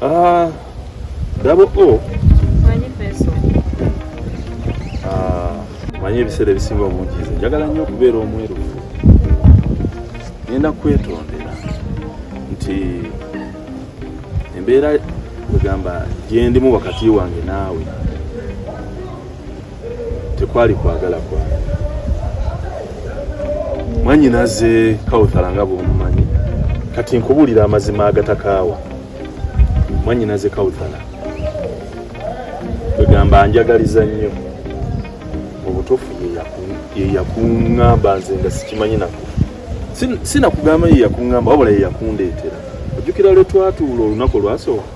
Ah, double O. Manyi peso. Ah, manyi ebiseera ebisinga obungi nze njagala nnyo okubeera omwerufu. Ngenda kwetondera nti embeera kwegamba gyendimu wakati wange naawe tekwali kwagala kwa mwanyinaze kawuthala nga bwomumanyi kati nkubuulira amazima agatakaawa mwanyinaze kawuthala kwegamba njagaliza nnyo obutuufu yeyakuŋŋamba nze nga sikimanyi naku sinakugamba yeyakuŋŋamba wabula yeyakundeetera ojjukira lwe twatuula olunaku olwasooka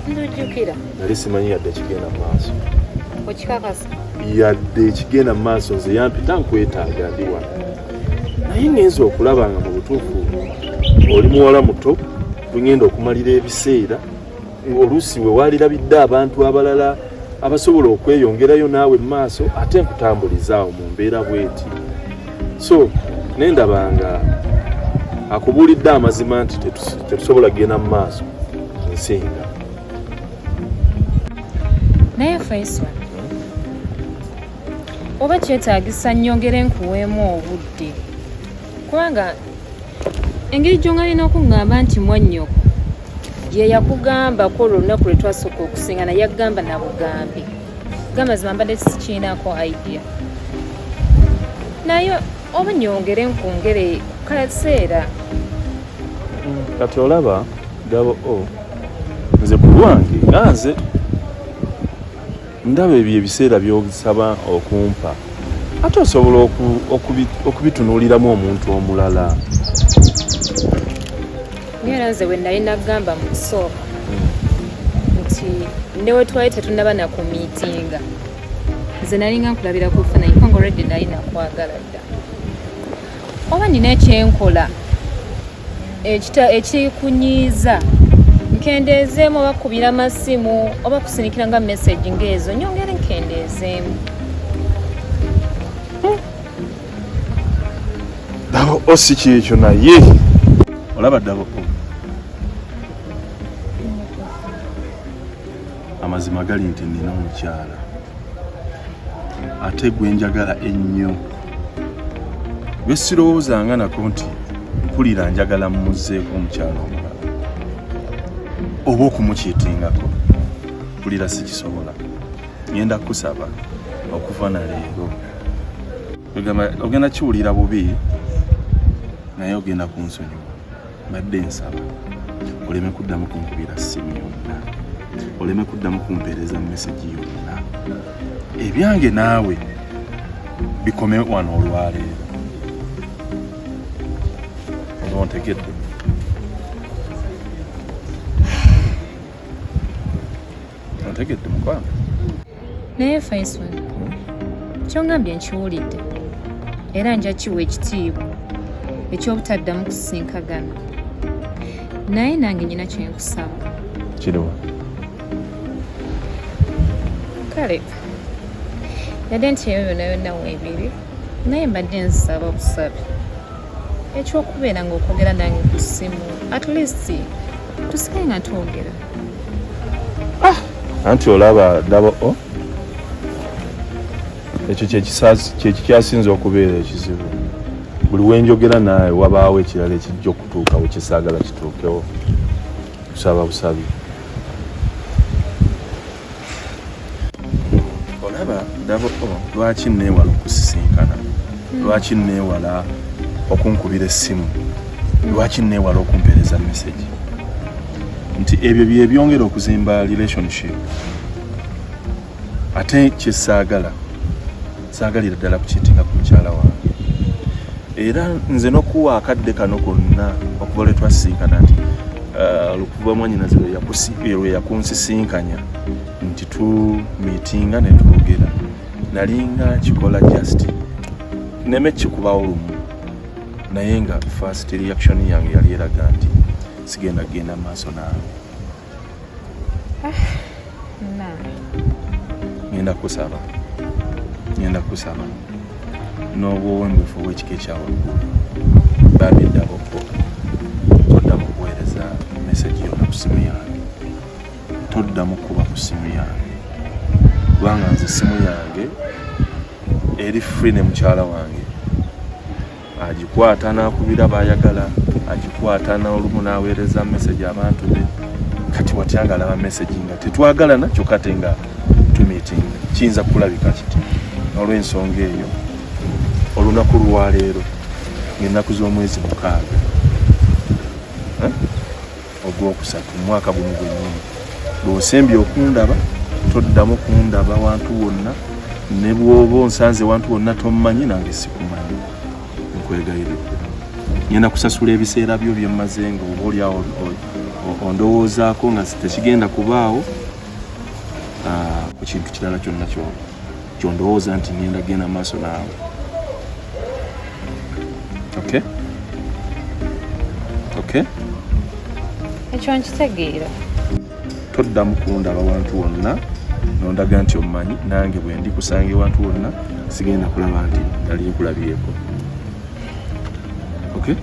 ndujjukira nali simanyi yadde ekigenda mu maaso okikakasa yadde ekigenda mu maaso nze yampita nkwetaaga ndi wano naye ngenza okulaba nga mu butuufu oli muwala muto bwengenda okumalira ebiseera oluusi we waalirabidde abantu abalala abasobola okweyongerayo naawe mu maaso ate nkutambulizaawo mu mbeera bweti so naye ndabanga akubuulidde amazima nti tetusobola kugenda mu maaso nsinga naye faisal oba kyetaagisa nnyongere nkuweemu obudde kubanga engeri gyongalina okuŋŋamba nti mwannyoko yeyakugambako olwo olunaku lwetwasooka okusingana yakugamba nabugambi gamazima mbadde sikiinako idea naye oba nyongere nkungere kaseera kati olaba gabo o nze kulwange anze ndaba ebyo ebiseera byosaba okumpa ate osobola okubitunuuliramu omuntu omulala era nze we nali nagamba mu kusooka nti newetwali tetunaba na ku miitinga nze nalinga nkulabira ku funa ikongo redi nali nakwagala dda oba nina ekyenkola ekikunyiiza nkendeezeemu oba kubira masimu oba kusinikira nga message ngaezo nyongere nkendeezeemu dabo osi oh, kyekyo naye olaba dabo amazima gali nti nina omukyala ate gwe njagala ennyo gwe sirowoozanga nako nti mpulira njagala mmuzeeko omukyala omulala oba okumukiitingako mpulira sikisobola ngenda kukusaba okuva na leero ogenda kiwulira bubi naye ogenda kunsonyiwa mbadde nsaba oleme kuddamu kunkubira ssimu yonna oleme kuddamu kumpeereza mesegi yonna ebyange naawe bikome wano olwaleero oba ontegedde otegedde mukwano naye faison kyongambye nkiwulidde era nja kiwa ekitiibwa ekyobutaddamu kusinkagana naye nange nyina kyenkusaba kiriwa kale yadde nti eyo yona yonna weebiri naye mbadde nsaba obusabi ekyokubeera ngaokwogera nange ku ssimu at least tusike nga twogera ah, anti olaba daba o oh. ekyo kyekikyasinza okubeera ekizibu buli wenjogera naawe wabaawo ekirala ekijja okutuuka wekisaagala kituukewo kusaba busabi olaba dabo oh, lwaki neewala okusisinkana hmm. lwaki neewala okunkubira essimu hmm. lwaki neewala okumpeereza mesegi nti ebyo byebyongera okuzimba relationship ate kyesaagala saagalira ddala kukitinga ku mukyala wange era nze nokuwa akadde kano konna okuva lwe twasisinkana nti uh, lukuva mwanyinazi lwe yakunsisinkanya nti tu mitinga ne twogera nalinga kikola just neme kikubawo lumu naye nga first reaction yange yali eraga nti sigenda kugenda maaso nange ngenda kusaba ngenda kusaba n'obwowembefu obwekika ekyawaggulu babiddako okukola toddamu kuweereza mesagi yona ku simu yange toddamu kuba ku simu yange kubanga nze simu yange eri free ne mukyala wange agikwata n'akubira baayagala agikwata n'olumu n'aweereza mesegi abantu be kati watya nga alaba mesegi nga tetwagalana kyokka te nga tumitinga kiyinza kulabika kiti olw'ensonga eyo olunaku lwaleero ng'ennaku z'omwezi mukaaga eh? ogwokusatu omwaka guno gwennyini bw'osembye okundaba toddamu kundaba wantu wonna ne bw'oba onsanze wantu wonna tommanyi nange sikumanyi nkwegayiridde ngenda kusasula ebiseera byo byemmaze nga oba olyawo ondowoozaako nga tekigenda kubaawo ah, ku kintu kirala kyonna kyona kyondowooza nti ngenda genda maaso naawe okay okay ekyo nkitegeera toddamu kundaba wantu wonna nondaga nti omumanyi nange bwendi kusanga ewantu wonna sigenda kulaba nti nali nkulabyeko okay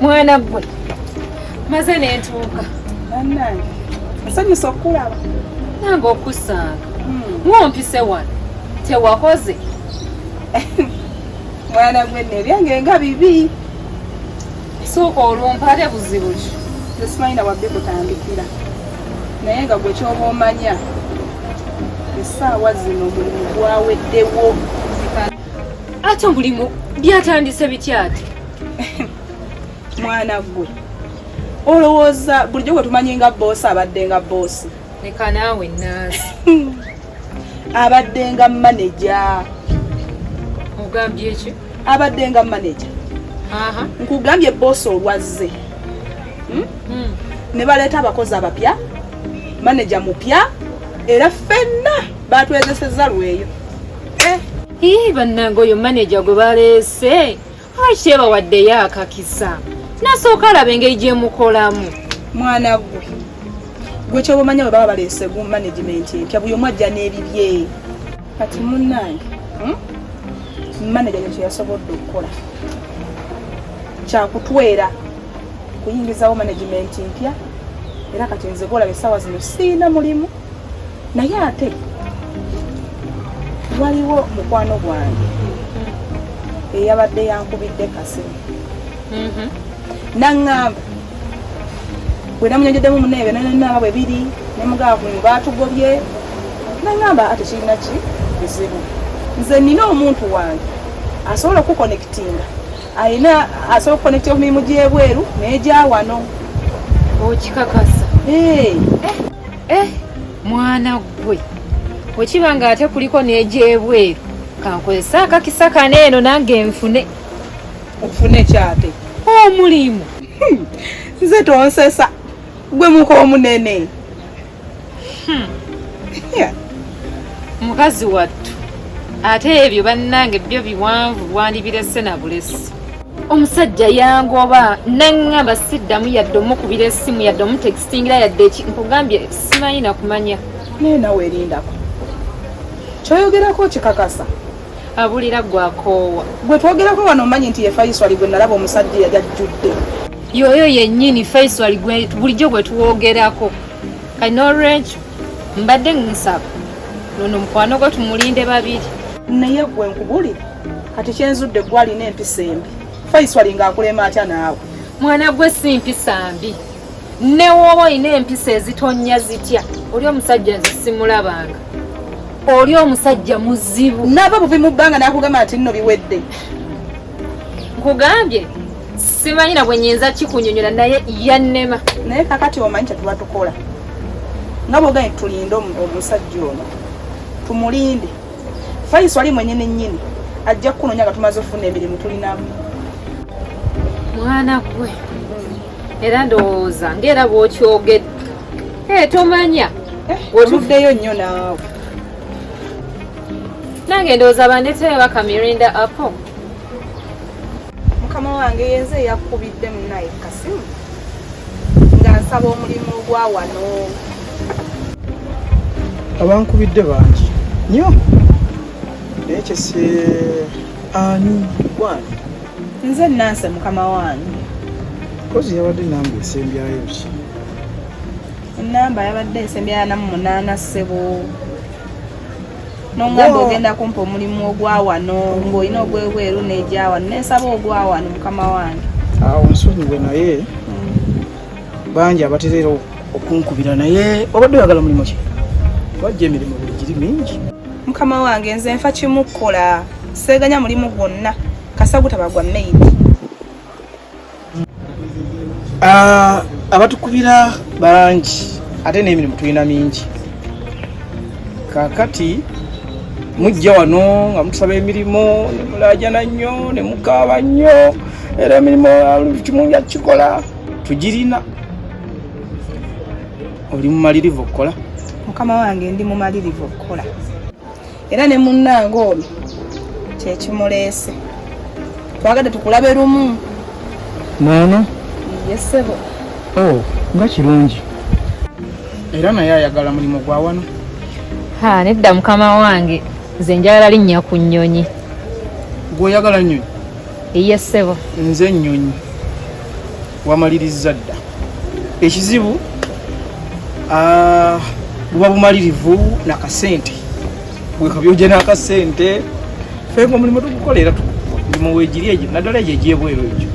mwana gwe maze nentuuka bannange asanyusa okukulaba nange okusanga hmm. ngompise wano tewakoze mwana gwe nebyange nga bibi suuka olumpale buzibu ki tesimanyi na wabbi kutandikira naye nga gwe kyoba omanya esaawa zino mulimu gwaweddewo ate omulimu byatandise bityati mwana gwe olowooza bulijjo gwe tumanyi nga boosi abadde nga boosi leka naawe naazi abaddenga maneja ogambye ki abaddenga maneja nkugambye boosi olwazze hmm? hmm. ne baleeta abakozi abapya maneja mupya era ffenna batwezeseza lweyo eh. bannange oyo maneja gwe baleese lwaki yabawaddeyo akakisa nasooka alaba engeri gye mukolamu mwana gwe gwe kyoba omanya bwe baba baleese gu management empya buli omu ajja n'ebibye kati munnange hmm? manaja nekyo yasobodde okukola kyakutwera kuyingizawo management mpya era kati nze golaba essaawa zino siina mulimu naye ate waliwo mukwano gwange eyabadde yankubidde kasimu mm-hmm. naŋŋamba bwe namunyonjeddemu muneebe nanaaba bwe biri ne mugamba ku baatugobye naŋŋamba ate kirina ki bizibu nze nina omuntu wange asobola okukonekitinga alina asobola okukonekita emirimu gy'ebweru n'egyawano okikakasa eh mwana gwe okiba nga ate kuliko n'egyebweru kankozese akakisa kano eno nange nfune ofune kyate omulimu hmm. nze tonsesa gwe muka omunene hmm. mukazi wattu ate ebyo bannange byo biwanvu bwandibirese na bulesi omusajja yangoba naŋŋamba siddamu yadde omukubira esimu yadde omutegesa singira yadde ki nkugambye simanyi nakumanya naye nawe erindako kyoyogerako kikakasa abulira gwakoowa gwe twogerako wano omanyi nti ye faiswali gwe nalaba omusajja yali ajjudde yoyo yennyini faiswali bulijjo gwe twogerako kati n'olwekyo mbadde nsaba nono mukwano gwe tumulinde babiri naye gwe nkubulire kati kyenzudde gwalina empisa embi faiswali ng'akulema atya naawe mwana gwe si mpisa mbi newooba olina empisa ezitonnya zitya oli omusajja nze simulabanga oli omusajja muzibu nava buvi mu bbanga nakugamba nti nno biwedde nkugambye simanyi na bwe nyinza kikunyonyola naye yannema naye kakati omanyi kyetuba tukola nga bwoganye tulinde omusajja ono tumulinde fayisi ali mwenyini nyini ajja kukunonya nga tumaze okufuna emirimu tulinamu mwana gwe era ndowooza ngaera bwokyogedde ee tomanya eh, wetuddeyo nnyo naawe nange ndowooza bandeteyo bakamirinda apo mukama wange yenze eyakkubidde munaye kasimu nga nsaba omulimu gwa wano abankubidde bangi nyo naye kyesi ani gwani nze nanse mukama wange kozi yabadde namba esembyayo ki enamba yabadde esembyayo namu munaana ssebo nongamba ogenda kumpa omulimu ogwawano ng'olina ogwebweru negyawano nensaba ogwawano mukama wange awo nsonyiwe naye hmm. bangi abatereera okunkubira naye obadde oyagala mulimu ki wajja emirimu buli giri mingi mukama wange nze nfa kimu kukola seeganya mulimu gwonna kasagutaba gwa maid ah, abatukubira bangi ate n'emirimu tulina mingi kakati mujja wano nga mutusaba emirimu nemulajana nnyo nemukaaba nnyo era emirimu kimu yakikola tugirina oli mumalirivu okukola mukama wange ndi mumalirivu okukola era ne munnange ono kyekimuleese twagadde tukulabe lumu noono yesebo o oh, nga kirungi era naye ayagala mulimu gwa wano ha nedda mukama wange nze njagala linnya ku nnyonyi gweoyagala nnyonyi eyesebo nze nnyonyi wamalirizza dda ekizibu ah, buba bumalirivu nakasente wekabyoja nakasente fenga omulimu tugukola era mulimu wegiri egyo naddala egyo egyebweru egyo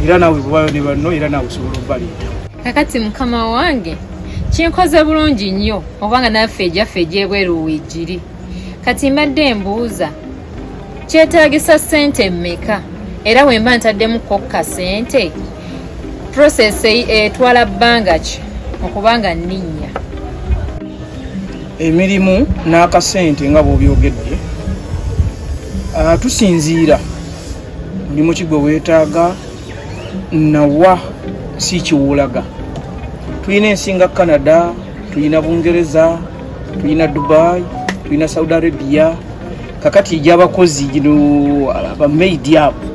era nawe bubayo ne banno era nawe osobola obaleeta kakati mukama wange kinkoze bulungi nnyo obanga naffe ejaffe egyebweru wegiri kati mbadde mbuuza kyetaagisa ssente mmeka era wemba ntaddemu kokka ssente process etwala bbanga ki okubanga nninnya emirimu n'akasente nga bw'obyogedde ah, tusinziira mulimu ki gwe weetaaga nawa si kiwulaga tulina ensinga canada tulina bungereza tulina dubai tulina saudi arabia kakati egyabakozi gino bamaidi abo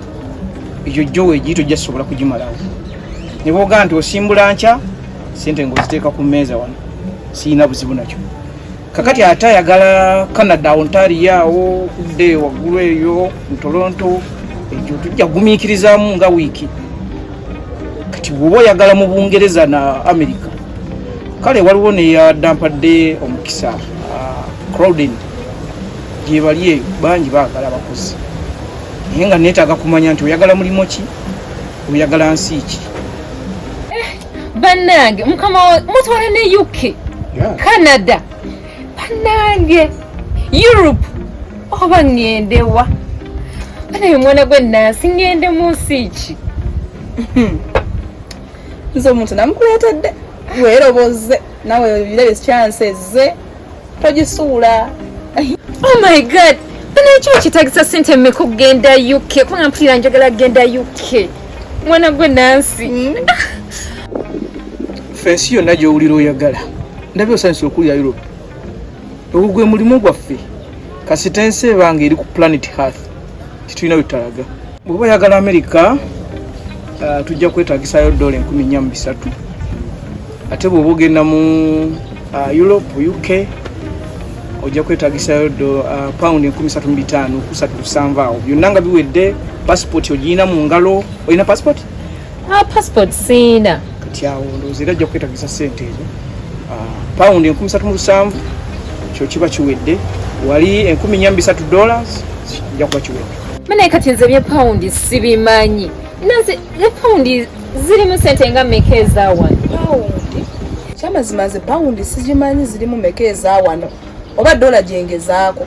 egyo jowa egiyito gyasobola kugimalawo nebogaa nti osimbula nkya sente ngaoziteeka ku meeza wano siyina buzibu nakyo kakati ate ayagala canada ontario awo kudde waggulu eyo mutoronto ekyo tujja gumiikirizamu nga wiiki kati woba oyagala mu bungereza na america kale waliwo neyadampadde omukisa ah, crowdin gyebali eyo bangi bagala abakozi naye nga netaaga kumanya nti oyagala mulimu ki oyagala nsi ki eh, bannange mukama mutwala ne uk canada bannange europe oba ŋŋendewa anaye omwana gwe nansi ŋŋende mu nsi ki hmm. nze omuntu namukuleetedde weerobozze nawe birebe kyansi ezze togisuula oh my god banakyo kitagisa sente mmeka okugenda uk kubanga mpulira njagala kugenda uk mwana gwe nansi hmm. fensi yonna gyowulira oyagala ndabye osanyusa okulya europe ogwo gwe mulimu gwaffe kasita ensi ebanga eri ku planet hearth kitulina wetutalaga bweba oyagala america uh, tujja kwetagisayo dola enkumi nya mu bisatu ate bwoba ogenda mu uh, europe uk ojja kwetagisayo uh, pound enkumi satu mu bitaano kusatu lusanvu awo byonna nga biwedde passport ogiyina mu ngalo olina passport ah, passport siina kati awo ndowooza era ajja kukwetagisa sente ezo ah, pound enkumi satu mu lusanvu kyo kiba kiwedde wali enkumi nya mbisatu dollars kijja kuba kiwedde manaye kati nze bye pound sibimanyi naze ne pound zirimu sente nga meka ezawano kyamazima nze pound sigimanyi zirimu meka ezawano oba dola gyengezaako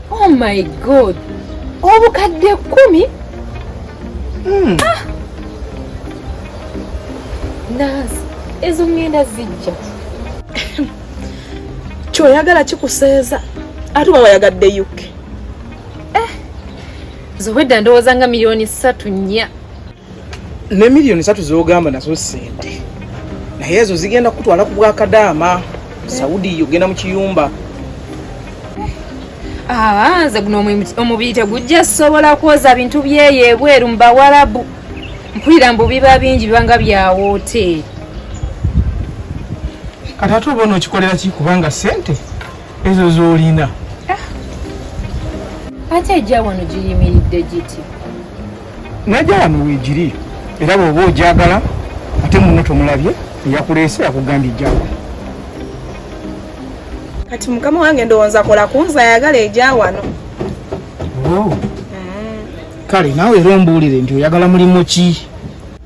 Oh my god. Obukadde kumi? Mm. Ah. Naz, ezo ngenda zijja. Kyoyagala kikuseeza. Ate oba wayagadde UK. Eh. Zowedda ndowooza nga miliyoni ssatu nnya. ne miliyoni satu zogamba nazo sente naye ezo zigenda kutwala ku bwakadaama saudi ogenda mu kiyumba ah, nze guno omubiri tegujja sobola kwoza bintu byeyo ebweru mu bawarabu mpulira mbu biba bingi bibanga bya woteeri kati ate oba onookikolera ki kubanga sente ezo z'olina ah. ate ejja wano giyimiridde giti najja wano wegiri era bwoba ojagala ate munno tomulabye eyakuleese yakugambye ejjawa kati mukama wange ndowooza kola kunza ayagala eja wano oh. mm. kale naawe era ombuulire nti oyagala mulimu ki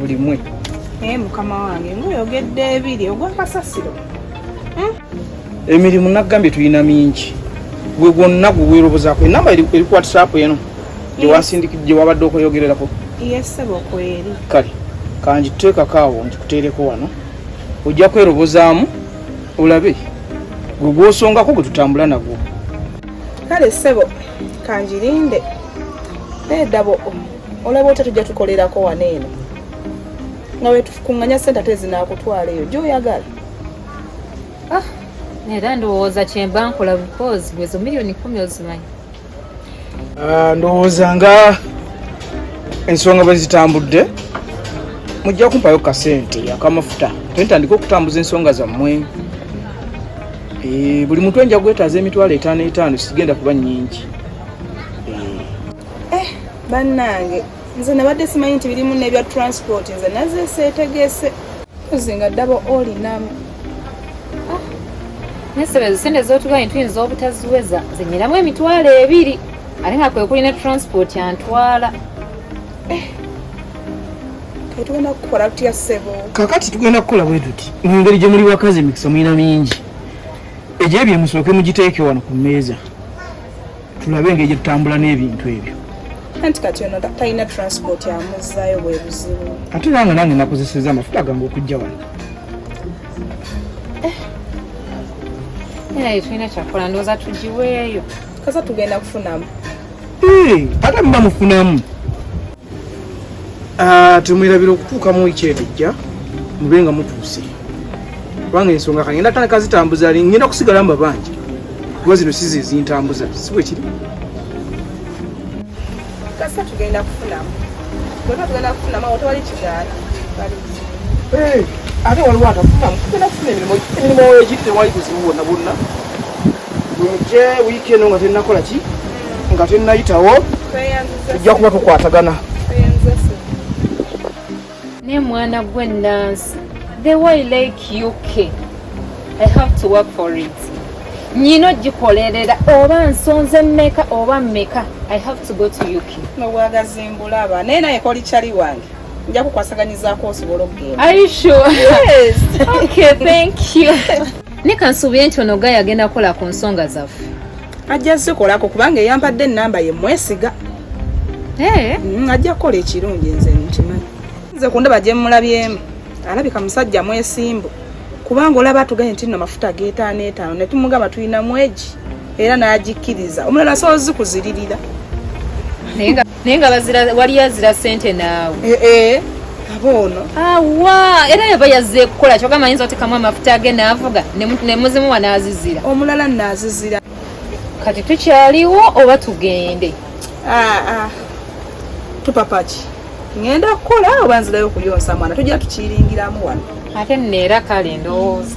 buli mwe naye eh, mukama wange ngaoyogedde ebiri ogwakasasiro hmm? emirimu nagambye tulina mingi gwe gwonna gwe weerobozaako enamba eri ku whatsapp eno gye wabadde okweyogererako kale kanjituteekako awo nkikuteereko wano ojja kwerobozaamu olabe gwe gwosongako gwe tutambula nagwo kale ssebo kanjirinde nedabo olaba otya tujja tukolerako wano eno nga wetukunganya sente ate zinakutwala eyo gyoyagala ah, era ndowooza kyemba nkola bikozi bwezo miliyoni kumi ozimanyi ah, ndowooza nga ensonga bwe zitambudde mujja kumpayo kasente akamafuta tentandika okutambuza ensonga zammwe eh, buli muntu enja gwetaaza emitwalo etaano etaano sigenda kuba nyingi eh bannange nze nabadde simanyi nti birimu nebya transport nze naze setegese ozinga ddaba olinamu ah, nesebezo sente zotugayi tuyinza obutaziweza zinyiramu emitwalo ebiri ate nga kwekuli ne transport antwala eh, tugenda kukola tutya sebo kakati tugenda kukola bwe tuti mu ngeri gye muli bakazi emikisa mulina mingi egyo ebyo musooke mugiteeke wano ku mmeeza tulabe engeri gyetutambula n'ebintu ebyo anti kati ono talina transport amuzzayo bwe buzibu ate nange nange nakozeseza amafuta gange okujja wano eh. naye tulina kyakola ndowooza tugiweeyo kaza tugenda kufunamu ate muba mufunamu Ah, tumwirabira okutuuka mu wiki enejja mube nga mutuuse kubanga ensonga kagenda tana kazitambuza ali ngenda kusigala mu babanja kuba zino sizi ezintambuza si bwe kiri kasa tugenda kufunamu bweba tugenda kufunamu awo tewali kigaala eh, ate waliwo atafunamu tugenda kufuna emirimu emirimu wegiri tewali buzibu bwonna bwonna bwemujje wiiki eno nga tennakola ki nga tennayitawo tujja kuba tukwatagana ne mwana gwe nansi the way like uk i have to work for it nyina ogikolerera oba nsonze meka oba meka i have to go to uk nobwagazi mbulaba naye naye koli cali wange nja kukwasaganyizaako osobola okugenda are you sure yes okay thank you ne kansuubire nti ono gaya agenda kukola ku nsonga zaffe ajja zikolako kubanga eyampadde enamba ye mwesiga eh? mm, ajja kukola ekirungi nze nkimanyi nze ku ndaba gyemulabyemu alabika musajja mwesimbu kubanga olaba atuganye nti no mafuta getaano etaano ne tumugamba tulina mwegi era n'agikkiriza omulala soozi kuziririra naye nga bazira wali azira sente naawe eh, eh. abono awa era yaba yazze ekukola kyoga mayinza otekamu amafuta age naavuga nemuzimu wanaazizira omulala naazizira kati tukyaliwo oba tugende ah, ah. tupapaki ŋenda kukola oba nzirayo okuyonsa mwana tujja tukiringiramu wano ate neera kale ndowooza